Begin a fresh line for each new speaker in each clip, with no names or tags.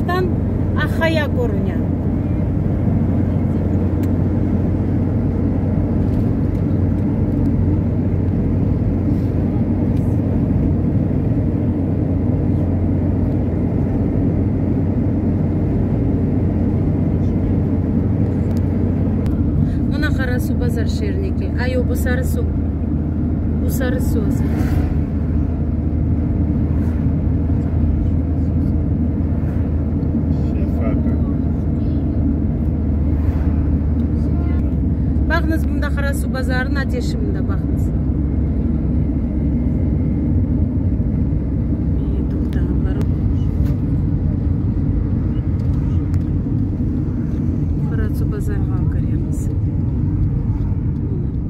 Uzaqtan Ahaya körüne. Mına qara suv, bazar şerniki. Ay, o, bu sarı suv. bu sarı söz. Baqıñız, bunda Qarasüv bazarınıñ ateşi mında, baqıñız. Qarasüv bazarınıñ alqariyatı.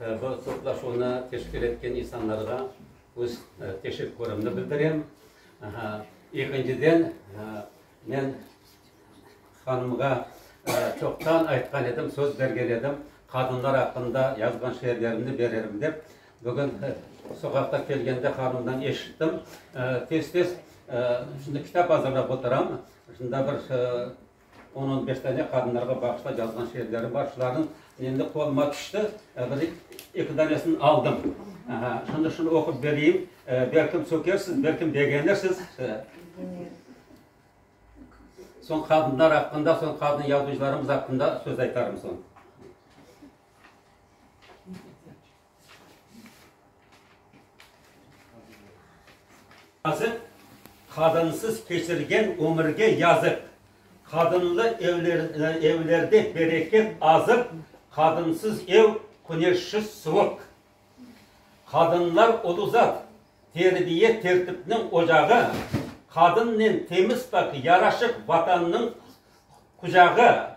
Bu toplaşuvnı teşkil etken insanlarğa öz teşekkürimni bildirem. Ekinciden, men hanımğa çoqtan aytqan edim, söz bergen edim, qadınlar aqqında yazğan şiirlerimni bererim dep. Bugün soqaqta kelgende hanımdan eşittim. Tez-tez şimdi kitap azırlap oturam, şunda bir On on beş dane qadınlarğa bağışlap yazğan şiirlerim bar. Şularnıñ endi qoluma tüşti, bir eki danesini aldım. Aha, şimdi şunı oqup bereyim. Belkim sökersiz, belkim begenirsiz. Soñ qadınlar aqqında, soñ qadın yazıcılarımız aqqında söz aytarım soñ. Yazıq, qadınsız keçirgen ömürge yazıq, Qadınlı evlerde bereket azıq, Qadınsız ev, küneşsiz suvıq. Qadınlar ulu zat, terbiye, tertipniñ ocağı, Qadınnen temiz-pak, yaraşıq Vatannıñ qucağı.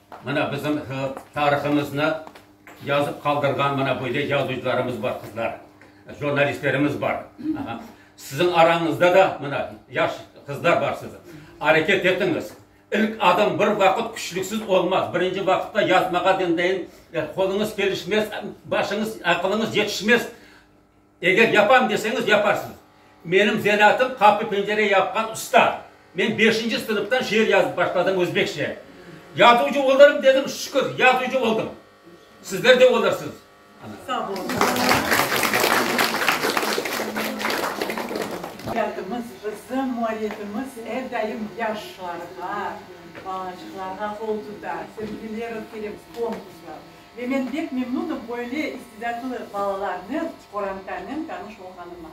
Mına bizim tarihımıznı yazıp qaldırğan mına böyle yazıcılarımız bar, qızlar, jurnalistlerimiz bar. Siziñ arañızda da mına yaş qızlar barsız. Areket etiñiz. İlk adım bir vaqıt küçlüksiz olmaz. Birinci vaqıtta yazmağa deyin, qoluñız kelişmez, başıñız, aqılıñız yetişmez. Eger yapam deseñiz, yaparsıñız. Menim zanatım qapı-pencere yapqan usta. Men beşinci sınıftan şiir yazıp başladım özbekçe. Yazuvcı olırım dedim, şükür, yazuvcı oldım. Sizler de olursıñız. Sağ olunız. Bizim muallifimiz er daim
yaşlarğa, balancıqlarğa qol tutar, sevgiler ötkerebz, konkurslar. Ve men bek memnunım böyle istedâtlı balalarnı qorantanen tanış olğanıma.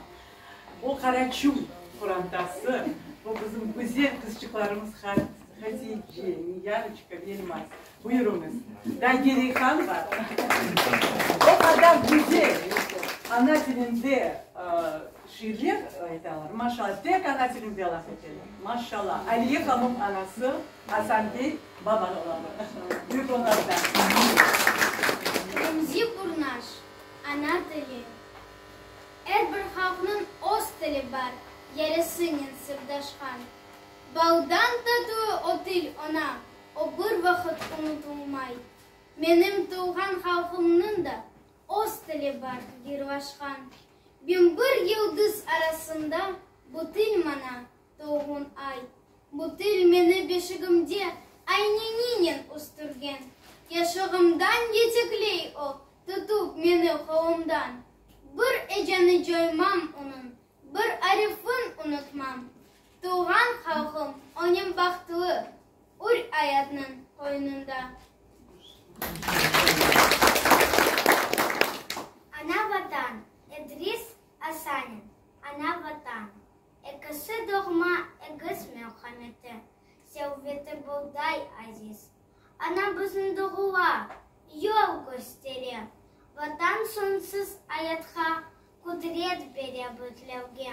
O Qaraçum qorantası, o bizim güzel qızçıqlarımız Hatice, Niyaroçka, Elmaz. Buyurıñız, daa gereği qan bar? O qadar güzel ana tilinde şiirler aytalar, maşallah, tek ana tilinde laf eteler, maşallah. Aliye hanım anası. Asanbiy Babanovamı büyük
oñattan. Remzi Burnaş, Ana tili. Er bir halqnıñ öz tili bar, yarısınen sırdaşqan. Bağdan tatıu o til oña o bir vaqıt unutulmay. Menim tuvğan halqımnıñ da öz tili bar, gırvaşqan. Bin bir yıldız arasında bu til maña Doğğun ay. Bu til meni beşigimde ayneninen üstürgen. Yaşığımdan yetekley o, tutıp meni qolumdan. Bir eceni coymam onıñ, bir arifin unutmam. Tuvğan halqım onim bahtlı, ür ayatnıñ qoynunda. Ana Vatan, Edris Asanin, Ana Vatan. Ekisi doğma egiz merhameti, sevveti bulday aziz. Ana bizni doğula, yol köstere, Vatan soñsuz ayatqa qudret bere bütlevge.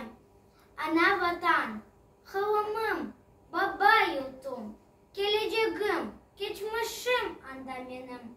Ana Vatan, hılımım, baba yurtum, kelecegim, keçmişim anda menim.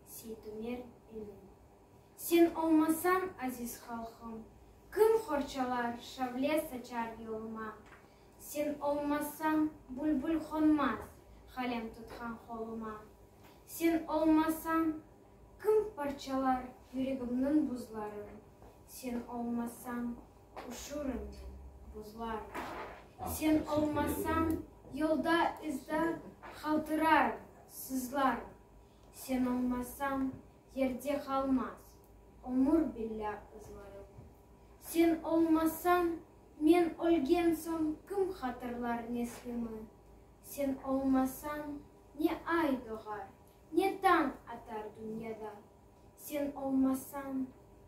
Seytumer ilim. Sen olmasañ, aziz halqım, Kim qorçalar, şavle saçar yoluma? Sen olmasañ, bülbül qonmaz, Qalem tutqan qoluma. Sen olmasañ, kim parçalar Yüregimniñ buzların? Sen olmasañ, üşürüm men, buzlarım. Sen olmasañ, yolda-izda Qaltırarım, sızlarım. Sen olmasañ, yerde qalmaz. Ömür billâ ızlarım. Sen olmasañ, men ölgen soñ kim hatırlar neslimı? Sen olmasañ, ne ay doğar, ne tañ atar dünyada. Sen olmasañ,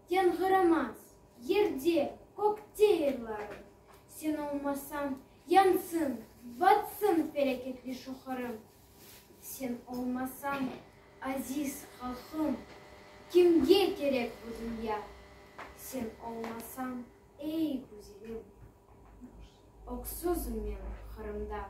yañğıramaz yerde, kökte yırlarım. Sen olmasañ, yansın, batsın peleketli şoqırım. Sen olmasañ, aziz halqım, Kimge kerek bu dünya? Sen olmasañ, ey güzelim, Öksüzim men Qırımda.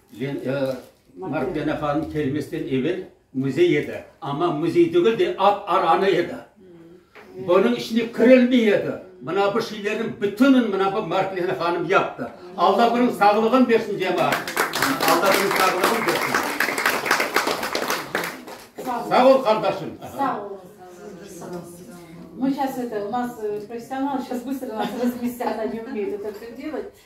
Marfkena hanım kelmesden evel müzey edi, amma müzey degil de, at aranı edi. Bunıñ içine kirilmey edi. Mına bu şeylerniñ bütünün mına bu Marfkena hanım yaptı. Alla bunıñ sağlığın bersin, cemaat! Alla bunıñ sağlığın bersin! Sağ ol, qardaşım! Sağ ol. Мы şas edi, u nas professional, şas bıstır nas razmestâ, ona ne umeyt, o tok to
delât.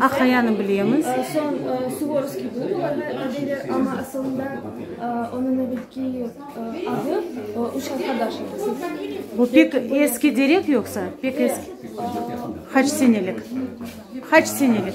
Aqayanı bilemiz. Bu
pek eski derek yoqsa? Qaç senelik?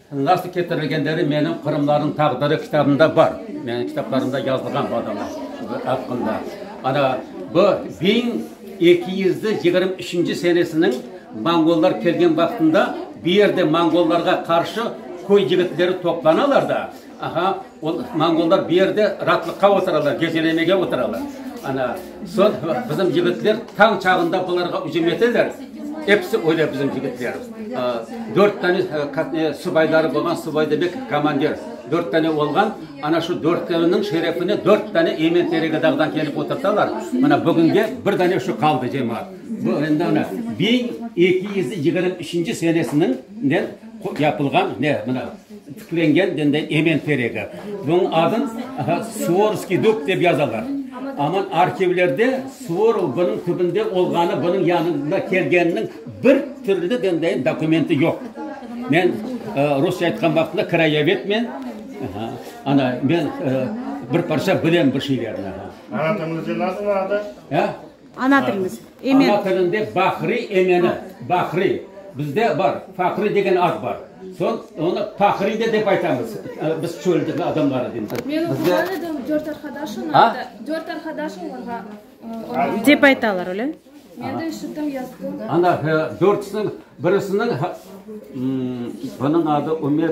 Nasıl ketirilgenleri menim Qırımlarnıñ taqdiri kitabımda bar. Menim kitaplarımda yazılğan bu adamlar aqqında. Ana, bu biñ eki yüz yigirmi üçünci senesiniñ monğollar kelgen vaqtında bu yerde monğollarğa qarşı köy yigitleri toplanalar da, aha, Monğollar bu yerde raatlıqqa oturalar, gecelemege oturalar. Ana, soñ bizim yigitler tañ çağında bularğa ücüm eteler, episi ölü bizim yigitler. Dört tane subayları bolğan, subay demek, komandir, dört tane olğan. Ana şu dörtünüñ şerefine dört tane emen Teregadağdan kelip oturtalar. Mına bugünge bir dane şu qaldı, cemaat. Bu endi, ana, biñ eki yüz yigirmi üçünci senesiniñ Yapılğan ne, mına, tiklengen mende emen teregi. Bunıñ adın Suvorovskiy dub dep yazalar. Amma arhivlerde Suvorov bunıñ tübünde olğanı, bunıñ yanına kelgeniniñ bir türlü mende dokumenti yoq. Men rusça aytqan vaqtında krayovedmen, ana, men bir parça bilem bir şeylerni. Anatamızda
nasıl adı? Ana
tilimiz, emen. Ana tilinde
bahriy emeni, bahriy. Bizde bar, faqriy degen ad bar. Soñ onı pahriy de dep aytamız. Biz çöl adamları deymiz. Men oquğan edim, dört
arqadaş onaydı. Dört arqadaş olarğa onaydı. Dep
aytalar, öyle? Men de eşittim,
yazdım. Ana,
dörtsiniñ, birisiniñ, bunıñ adı Ümer,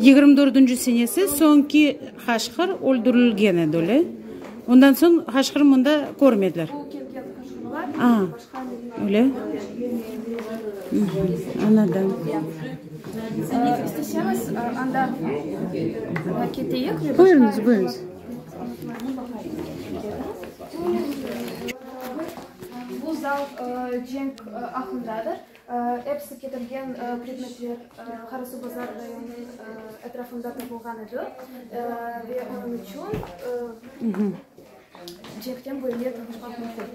Yigirmi dördünci senesi soñki Haşqır öldürilgen edi, öyle? Ondan soñ Haşqırnı mında körmediler.
Aa, öyle?
Añladım.
Buyurıñız,
buyurıñız.
Bu zal cenk aqqındadır. Episi ketilgen predmetler Qarasuvbazar rayonınıñ etrafında tapılğan edi, ve onıñ içün cehden böyle tapışmaq mümkün.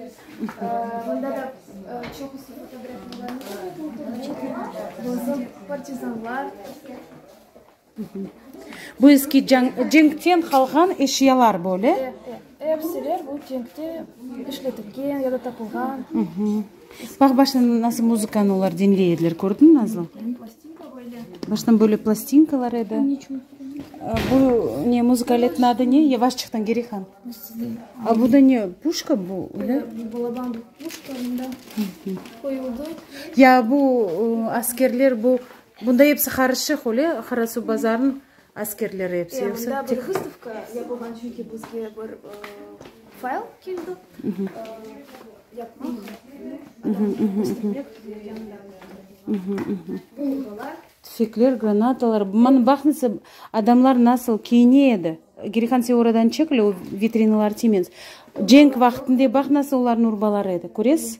Mında da çoqusı fotografiyalarnı, partizanlar.
Bu eski cenkten qalğan eşyalar böyle. Epsiler
bu cenkte işletilgen ya da tapılğan.
Baq, baştan nasıl muzıkanı olar diñley ediler, kördiñ, Nazlı? Baştan böyle plastinkalar edi. Bu ne, muzıka aletiniñ adı ne? Yevaşçıqtan geri qan. A bu da ne, puşka bu, öyle? Balaban
puşka, mında qoyuldı. Ya
bu askerler bu Bunda episi qarışıq öyle, Qarasu bazarnıñ askerleri episi, yoqsa tek.
Vıstavka yapılğan,
çünki bizge bir fayl keldi, yapmaq, işletmek yanında. Bombalar. Tüfekler, granatalar, mana baqnıñsa, adamlar nasıl kiyine edi, geri qansı oradan çek öyle, o vitrinalar tiymez, cenk vaqtında baq nasıl olarnı urbalar edi, köresiz?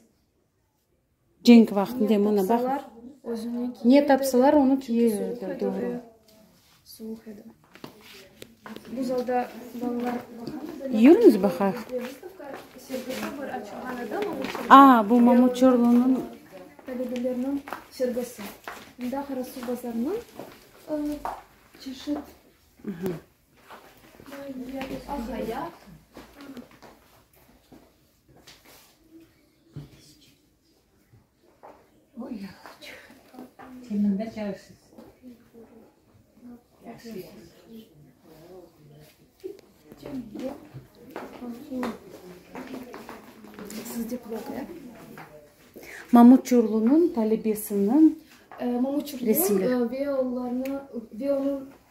Cenk vaqtında mına baq, ne tapsalar, onı kiyiverdi, doğru.
Yürüñiz
baqayıq. A, bu
Mamuçorlunıñ.
Mamutçurlunıñ talebesiniñ
resimleri.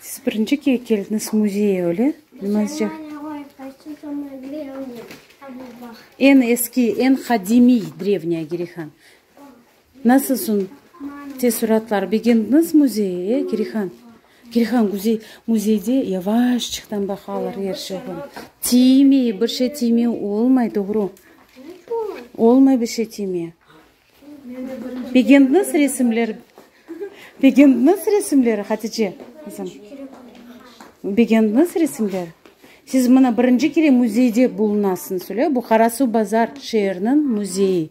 Siz birinci kere keldiñiz müzeye, öyle? Eñ eski, eñ qadimiy Drevnâya Girihan. Nasıl soñ teessuratlar? Begendiñiz müzeyi, e, Kirihan? Kirihan güzel müzeyde yavaşçıqtan baqalar er şeyği. Tiymey, bir şey tiymey olmay, doğru. Olmay bir şey tiymey. Begendiñiz resimler? Begendiñiz resimler, Hatice qızım? Begendiñiz resimler? Siz mına birinci kere müzeyde bulunasıñız, öyle? Bu Qarasuv-Bazar şeeriniñ müzeyi.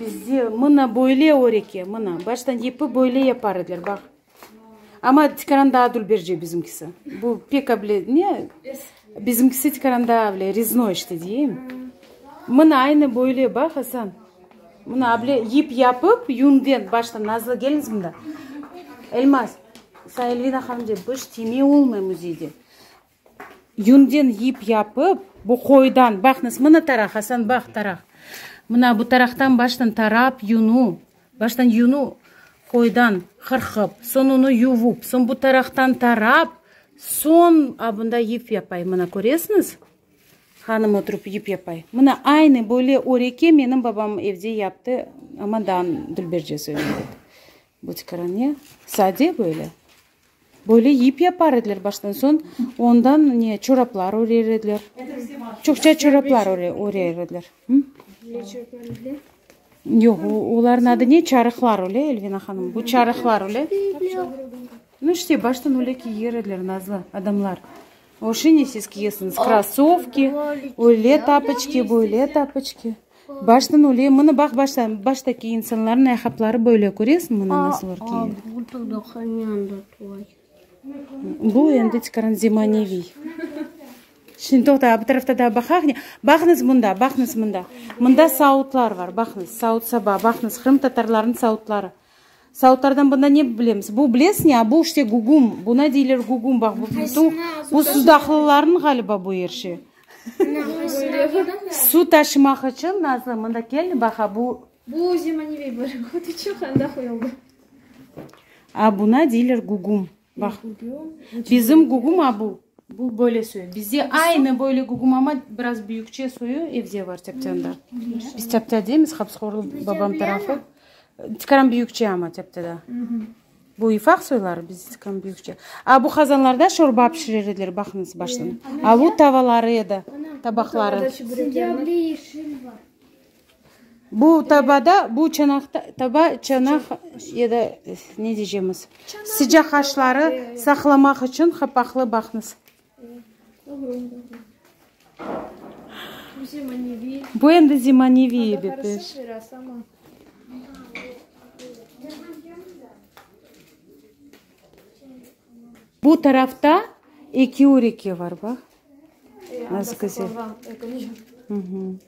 Bizde mına böyle or eke, mına, baştan yepi böyle yapar ediler, baq. Amma tikaran daa dülberce bizimkisi. Bu pek able, ne, bizimkisi tikaran daa able, reznoy işte deyim. Mına aynı böyle, baq, Asan, mına able yip yapıp, yünden, baştan nazlı geliniz mında. Elmaz, sañ Elvina hanım dep, bir iş tiyme olmay muzeyde. Yünden yip yapıp, bu qoydan, baq nasıl, mına taraq, Hasan, baq, taraq. Mına bu taraqtan baştan tarap, yunu, baştan yunu, qoydan qırqıp, soñ onı yuvup, soñ bu taraqtan tarap, soñ abında yip yapay. Mına köresiñiz, hanım oturıp yip yapay. Mına aynı böyle öreke menim babam evde yaptı, amma daa Dülberce söylemedi. Bu tikaranıya sade böyle. Böyle yip yapar ediler baştan soñ, ondan ne çoraplar örer ediler. Çoqça çoraplar örer ediler. Ne çoraplar öyle? Yoq, olarnıñ adı ne? Çarıqlar öyle, Elvina hanım. Bu çarıqlar öyle. No işte, baştan öyle kiyer ediler nazlı adamlar. O şine siz kiyesiñiz, krossovki, öyle tapoçki, böyle tapoçki. Baştan öyle, mını baq, başta, baştaki insanların ayaqapları böyle, köresiñ, mını nasıl örtüyler. Bu endi tikaran zemaneviy. Şimdi toqta, bu tarafta da baqaq ne? Baqıñız mında, baqıñız mında. Mında saudlar bar, baqıñız, saud-saba, baqıñız, qırımtatarlarnıñ saudları. Sautlardan bunda ne bilemiz? Bu bilesiz ne? A, bu işte gugum. Buna deyler gugum. Baq, bu bütün, bu sudaqlılarnıñ ğaliba bu er şey. Su taşımaq içün, Nazlı, mında kel, baq, a bu. Bu zemaneviy
bir. Otu çoq anda qoyuldı. A, buna
deyler gugum. Baq, bizim guguma bu, bu böyle soyu. Bizde aynı böyle gugum, amma biraz büyükçe soyu evde var, Teptânda. Biz Teptâ deymiz, Habskorlu babam tarafı. Tikaram büyükçe amma Teptada. Bu İfaq soyları, bizde tikaram büyükçe. A bu qazanlarda şorba pişirer ediler, baqıñız baştan. Aluv tavaları edi, tabaqları. Sende able yeşil var. Bu tabada, bu çanaqta, taba, çanaq ya da ne diycemiz, sıcaq aşları saqlamaq içün qapaqlı baqnız. Bu endi zemaneviy bitiş. Bu tarafta eki üreke var, bax, nasıl güzel.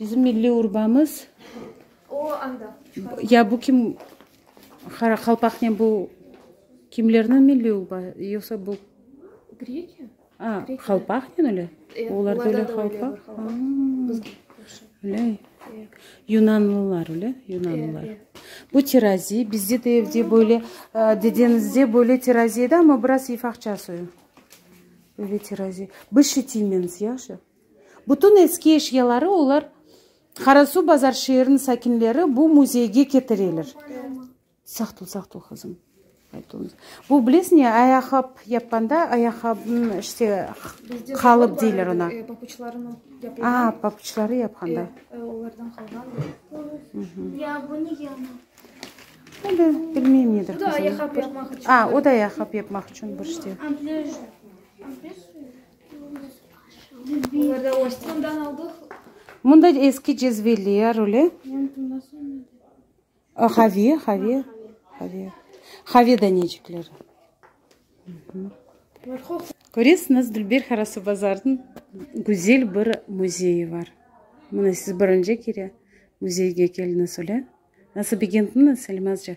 Bizim milliy urbamız. O
anda. Ya bu kim
Qaraqalpaqnen bu kimlerniñ milliy urba yoqsa bu. Grekiya.
A, Qalpaqnen
öyle? E, olar da öyle Qalpaq. Öyle. Yunanlılar öyle, Yunanlılar. Bu terazi, bizde de evde böyle, dedenizde böyle terazi edi, amma biraz ifaqça soyu. Böyle terazi. Biz şitimeniz, yahşı. Bütün eski eşyaları olar Qarasuv Bazar şeerin sakinleri bu müzeyge ketireler. Sağ tül, sağ tül qızım. Bu bilesiñ ya ayaqap yapqanda ayaqabnıñ işte qalıp deyler ona.
A, papuçları yapqanda.
Olardan qalğan.
Ya bu ne ya? Öyle bilmeyim nedir qızım. Bu da ayaqap yapmaq içün.
A, o da ayaqap
yapmaq içün bir işte.
Mında
eski cezveler öyle. Haviye, haviye. Haviye. Haviye danecikleri. Köresiñiz, Dülber Qarasuvbazarnıñ güzel bir müzeyi bar. Mına siz birinci kere müzeyge keldiñiz, öyle. Nasıl begendiñiz, Salimazja?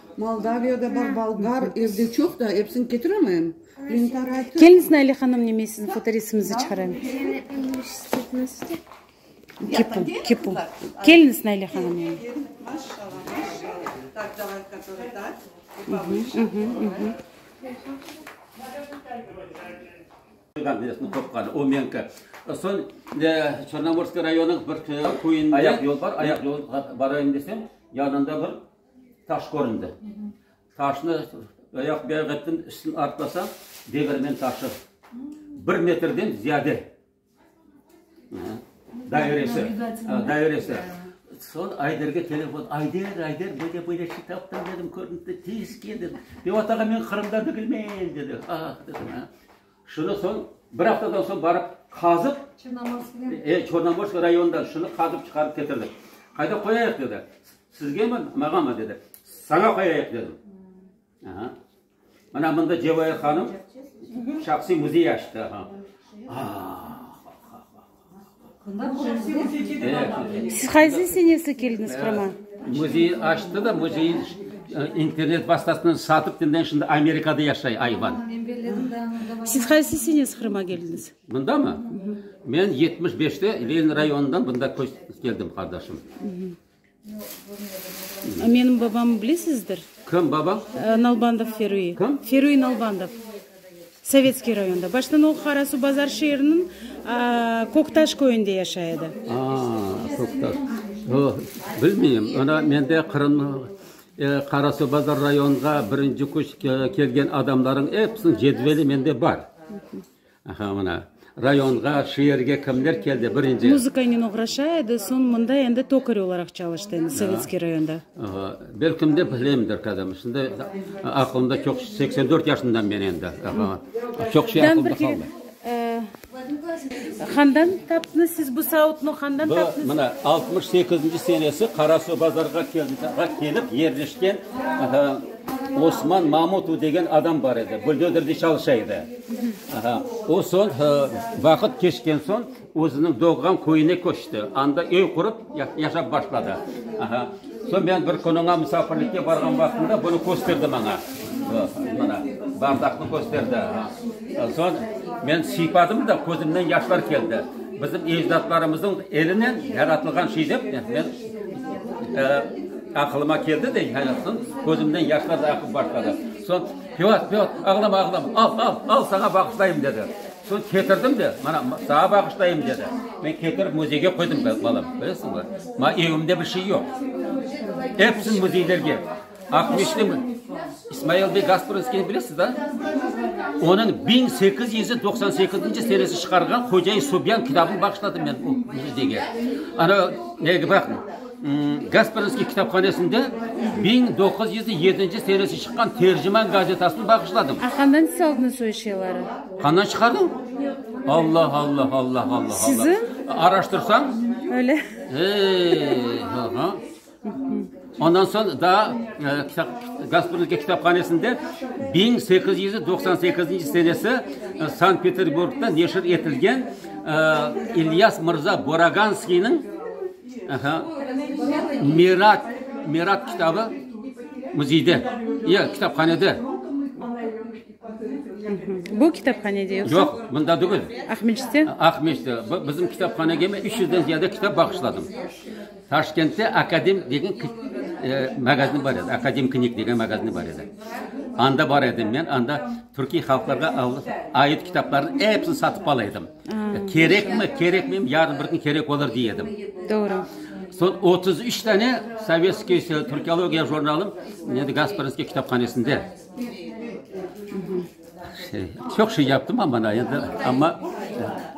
Moldaviyada bar bolgar evde çoq da, episini ketiremem. Kelniz
Naile hanım nime sizni fotoresimnizni çıqarayım. Kipu,
kipu.
Kelniz Naile hanım yani. O menki. Soñ Çornomorskiy rayonıñ bir köyünde. Ayaq yol bar, ayaq yol barayım desem, yanında bir. Taş köründi. Taşnı ayaq beyaq ettim, üstüni artlasam, devirmen taşı. Bir metrden ziyade dairesi, dairesi. Son Ayderge telefon, Ayder, Ayder, böyle böyle şey taptım dedim, köründi, tez kel dedim. Devat ağa, men Qırımda degilmen dedi. Ah, dedim, ha. Şunı soñ, bir aftadan soñ barıp qazıp, Çornomorsk rayonından şunı qazıp çıqarıp ketirdik. Qayda qoyayıq? dedi. Sizgemi, mağanmı? dedi. Saña qoyayıq, dedim. Mına mında Cevahir hanım şahsiy müzey açtı. Ah, ah, ah, ah, ah.
Siz qaysı senesde keldiñiz Qırıma? Müzeyi açtı
da, müzeyi internet vastasınen satıp, şimdi şimdi Amerikada yaşay ayvan.
Siz qaysı senesde Qırıma keldiñiz? Mında mı?
Men yetmiş beşte Lenin rayonından mında köç keldim, qardaşım.
Menim babamı bilesizdir? Kim babañ?
Nalbandov Ferüy.
Kim? Ferüy Nalbandov. Sovetskiy rayonda. Baştan o, Qarasu Bazar şeeriniñ Köktaş köyünde yaşay edi. Aa, Köktaş.
Yoq, bilmeyim. Ana, mende Qırım, Qarasu Bazar rayonğa birinci küç kelgen adamlarıñ episiniñ cedveli mende bar. Aha, mına, rayonğa, şeerge kimler keldi, birinci? Muzıkaynen oğraşa
edi, soñ mında endi tokar olaraq çalıştı endi, Sovetskiy rayonda. Aha, belkim de
bileyimdir qadım, şimdi aqılımda çoq, seksen dört yaşındayım men endi, aha, çoq şey aqılımda qaldı. Qandan taptınız siz bu savutnı, qandan taptınız? Bu, mına, altmış sekizinci senesi Qarasuvbazarğa kelip yerleşken, aha, Osman Mamutovu degen adam bar edi, buldozerde çalışa edi. O soñ, vaqıt keçken soñ, özüniñ doğğan köyüne köçti, anda öy qurıp, yaşap başladı. Soñ men bir kün oña musafirlikke barğan vaqtımda bunı kösterdi maña. Mana, bardaqnı kösterdi. Soñ men sıypadım da, közümnen yaşlar keldi. Bizim ecdatlarımıznıñ elinen yaratılğan şey dep, men, aqılıma keldi de, közümnen yaşlar aqıp başladı. Soñ. Piyot, Piyot, ağlama, ağlama, al, al, al, saña bağışlayım, dedi. Soñ ketirdim de, mana, saña bağışlayım, dedi. Men ketirip müzeyge qoydım, balam, bilesiñmi? Mañ evimde bir şey yoq. Epsin müzeylerge. Aqmescitli İsmail bey Gasprinskiyni bilesiz, da? Onıñ biñ sekiz yüz doqsan sekizinci senesi çıqarğan Hoca-i Subyan kitabını bağışladım men o müzeyge. Ana, nege baqıñ. Gaspersky kitaphanesinde biñ doquz yüz yedinci senesi çıqqan Terciman gazetasını bağışladım. Qandan siz aldınız o
eşyaları? Qandan çıqardım?
Alla, alla, alla, alla, alla. Siziñ?
Araştırsañ.
Öyle.
Eee, ha, ha.
Ondan soñ daa kitap, Gaspersky kitaphanesinde biñ sekiz yüz doqsan sekizinci senesi Sankt-Peterburgda neşir etilgen İlyas mırza Boraganskiyniñ, Mirat, Mirat kitabı müzeyde, yo, kitaphanede.
Bu kitaphanede yoqsa? Yoq, bunda degil.
Aqmescitte?
Aqmescitte.
Bizim kitaphanege men üç yüzden ziyade kitap bağışladım. Taşkentte Akadim degen magazin bar edi, Akadim knig degen magazin bar edi. Anda bar edim men, anda türkiy halqlarğa ait kitaplarnıñ episini satıp ala edim. Kerekmi, kerekmeymi, yarın bir kün kerek olur, dey edim. Doğru.
Soñ otuz
üç tane sovetskiy türkiologiya jurnalım nedir, Gasparinskiy kitaphanesinde. Şey, çoq şey yaptım man bana endi, amma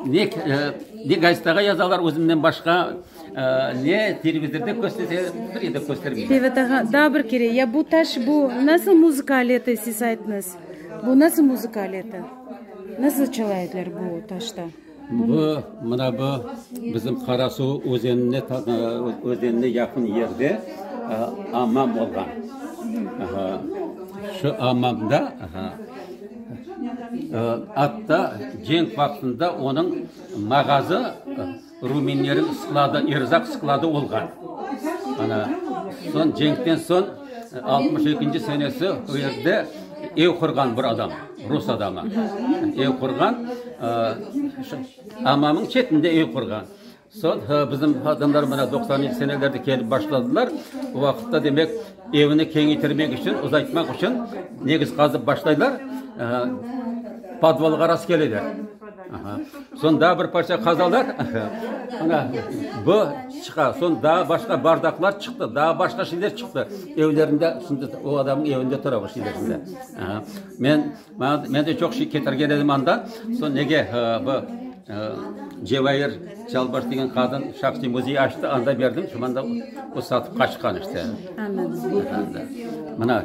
ne, ne gazetağa yazalar özümden başqa, ne televizorda kösterse, bir yerde köstermeyler. Tevadağa, daa bir
kere, ya bu taş, bu nasıl muzıka aleti, siz aytıñız, bu nasıl muzıka aleti? Nasıl çalaydılar bu taşta? Bu,
mına bu, bizim Qarasuv özenine özenine yaqın yerde ammam olğan. Şu ammamda, atta cenk vaqtında onıñ mağazı Ruminleriñ skladı, erzaq skladı olğan. Ana, soñ cenkten soñ altmış ekinci senesi o yerde ev qurğan bir adam, rus adamı. Ev qurğan, ammamnıñ çetinde ev qurğan. Soñ bizim adamlar mına doqsanıncı senelerde kelip başladılar. O vaqıtta, demek, evni keñeytirmek içün, uzaytmaq içün, negiz qazıp başlaylar, podvolğa rast keleler. Soñ daa bir parça qazalar, ana, bu çıqa, soñ daa başqa bardaqlar çıqtı, daa başqa şeyler çıqtı, evlerinde, şimdi o adamnıñ evinde tura bu şeyler şimdi. Men, maña, men de çoq şey ketirgen edim anda, soñ nege bu Cevayir Çalbaş degen qadın şahsiy müzey açtı, anda berdim, şimdi anda o satıp qaçqan işte. Anladım.
Mına.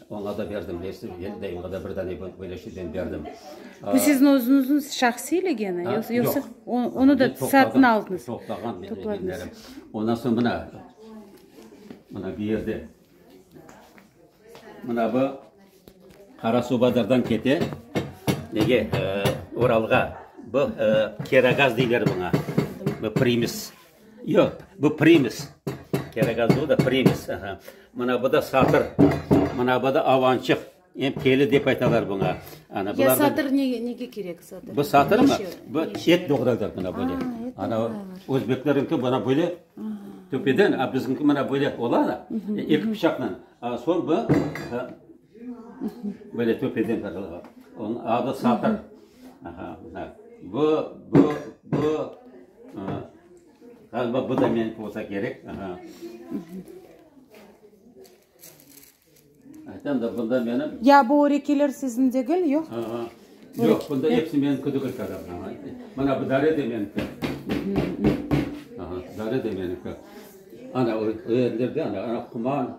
Oña da berdim, bilesiz, yel dayımğa da bir dane böyle şeyden berdim. Bu siziñ
özüñizniñ şahsiy legeni, yoqsa? Yoq. Onı da satın aldıñız. Toplağan men legenlerim.
Ondan soñ mına, mına bu yerde, mına bu Qarasuvbazardan kete, nege, Uralğa, bu Keragaz deyler buña, bu primis. Yoq, bu primis. Kerek az o da primis. Aha. Mına bu da satır. Mına bu da avançıq. Em keli dep aytalar buña. Ana, Ya bulardan- satır
ne, nege kerek satır? Bu satır mı? Neşe-
Bu neşe? et doğradır mına böyle. Ha, et Ana doğralar. özbekleriñki bana böyle töpeden, a bizimki mına böyle ola da, e, eki bıçaqla. A, soñ bu, e, Böyle töpeden qazılğan. Onıñ adı satır. Aha, mına. Bu, bu, bu, aa, ğaliba bu da meniñki olsa kerek. Aha. Aytam da, bunda menim. Ya bu örekeler
siziñ degil, yoq? Aha. Yoq, bunda
episi meniñki degil qazım. Aha. Mına bu dare de meniñki. Aha, dare de meniñki. Ana, o yerlerde, ana, quman.